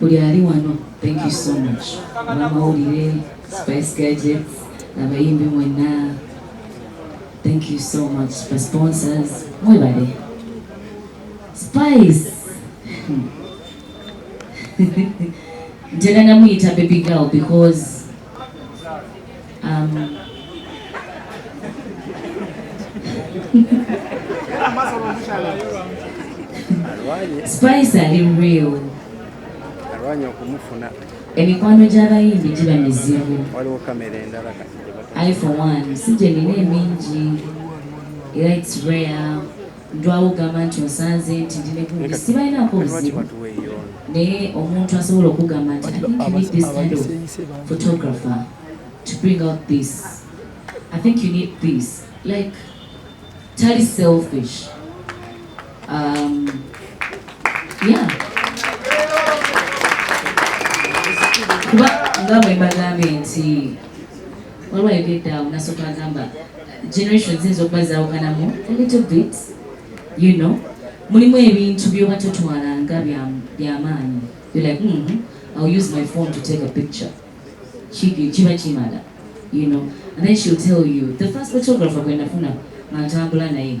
Buli ali wano thank you so much. Abamawulire, Spice Gadgets, abayimbi mwenna thank you so much for sponsors. Mwebale. Spice. Ntera namuyita baby girl because Um, spice ali real alwanya okumufuna emikwano gy'abayimbi giba mizibu waliwo kamera endala kati iphone one si gye nina emingi era its rare Ndwawo ogamba nti onsanze nti ndi ne gundi sibalinaako buzibu naye omuntu asobola okugamba nti i think you need this kind of photographer to bring out this i think you need this like tali selfish um, yeah kuba nga bwe mbagambye nti waliwo ayogedde awo nasooka agamba generation ziyinza okuba zawukanamu a little bit you know mulimu ebintu byoba totwalanga byamaanyi you're like mm -hmm. I'll use my phone to take a picture kiba kimala you know and then she'll tell you the first photographer gwe nafuna nga ntambula naye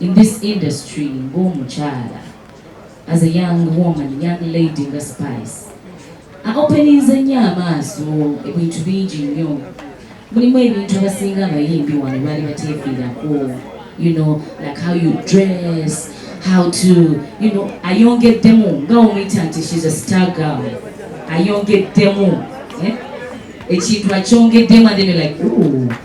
In this industry ng'omukyala as a young woman, young lady nga Spice aopeninze nnyo amaaso ebintu bingi nnyo mulimu ebintu abasinga abayimbi wano baali bateefiirako you know like how you dress how to you know ayongeddemu nga omuyita nti she's a star girl ayongeddemu eh? ekintu akyongeddemu and then like ooh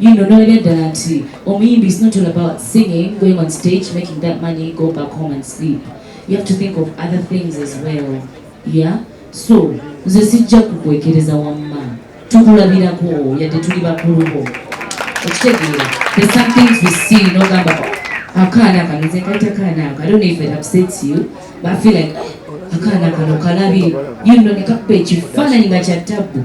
You know, no ddala nti omuyimbi is not all about singing, going on stage, making that money, go back home and sleep. You have to think of other things as well. Yeah? So, nze sijja kukwekereza wamma. Tukulabirako yadde tuli bakulu bo. Okitegeera. There's some things we see n'ogamba akaana kano nze kayita kaana ako. I don't know if it upsets you, but I feel like akaana kano kalabi. You know, ne kakuba ekifaananyi nga kya tabbu.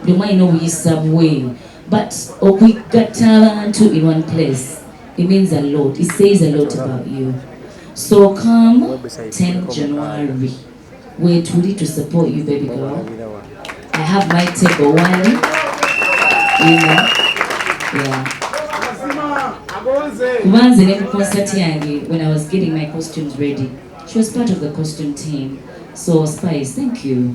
buli omu alina obuyisa bwe but okugatta abantu in one place it means a lot it says a lot about you so come 10 january wetuli to support you baby girl i have my table one you know yeah kuba nze ne ku concert yange when i was getting my costumes ready she was part of the costume team so spice thank you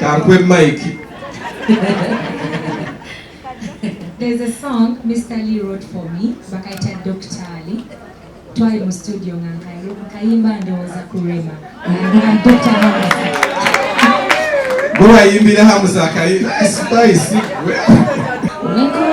Kakwe Mike. There's a song Mr. Lee wrote for me, Bakaita Dr. Ali. Twali mu studio nga nkayo, kayimba ndowooza ku Rema. Dr. Hamza. Gwe wayimbira Hamza akayimba, spice. Nikuwa